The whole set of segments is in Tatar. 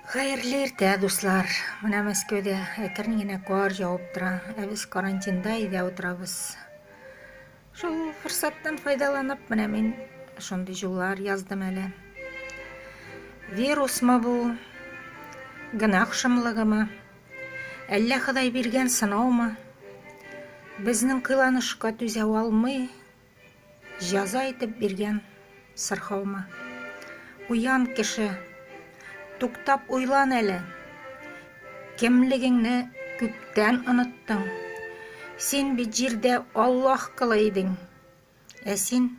Хәерле иртә, дуслар! Менә Мәскәүдә әкрен генә кар явып тора, ә без карантинда өйдә утырабыз. Шул форсаттан файдаланып, менә мин шундый җуллар яздым әле. Вирусмы бу? Гөнаһ шомлыгымы? Әллә Ходай биргән сынаумы? Безнең кыйланышка түзә алмый, Җәза итеп биргән сырхаумы? Уян, кеше! Туктап уйлан әле! Кемлегеңне күптән оныттың. Син бит җирдә Аллаһ колы идең, ә син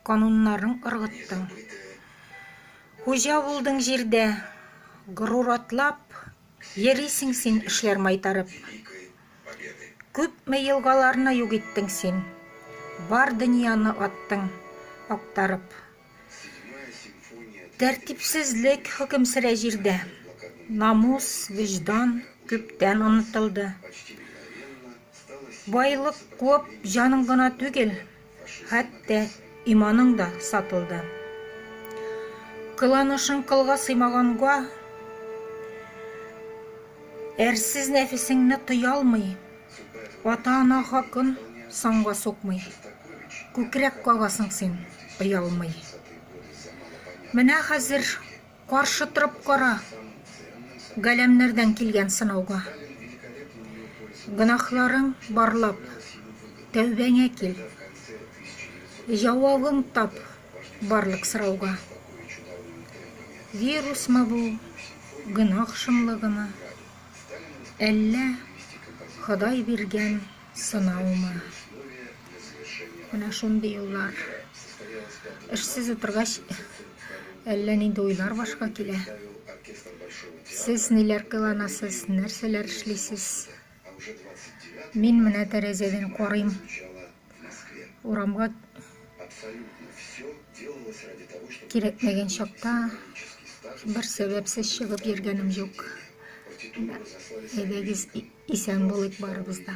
кануннарын ыргыттың. Хуҗа булдың җирдә, горур атлап, Йөрисең син эшләр майтарып. Күпме елгаларны юк иттең син. Бар дөньяны аттың актарып. Тәртипсезлек хөкем сөрә җирдә. Намус, вөҗдан күптән онытылды. Байлык куып җаның гына түгел, Хәтта иманың да сатылды. Кыланышың кылга сыймаганга, әрсез нәфесеңне тыялмый, ата-ана хакын санга сукмый, күкрәк кагасың син, оялмый. Менә хәзер Каршы торып кара Галәмнәрдән килгән сынауга. Гөнаһларың барлап, тәүбәңә кил. Җавабың тап барлык сорауга. Вирусмы бу, гөнаһ шомлыгымы, Әллә Ходай биргән Сынаумы? Менә шундый юллар. Эшсез утыргач, әллә нинди уйлар башка килә. Сез ниләр кыланасыз, нәрсәләр эшлисез? Мин менә тәрәзәдән карыйм. Урамга кирәкмәгән чакта бер сәбәпсез чыгып йөргәнем юк. Әйдәгез, исән булыйк барыбыз да.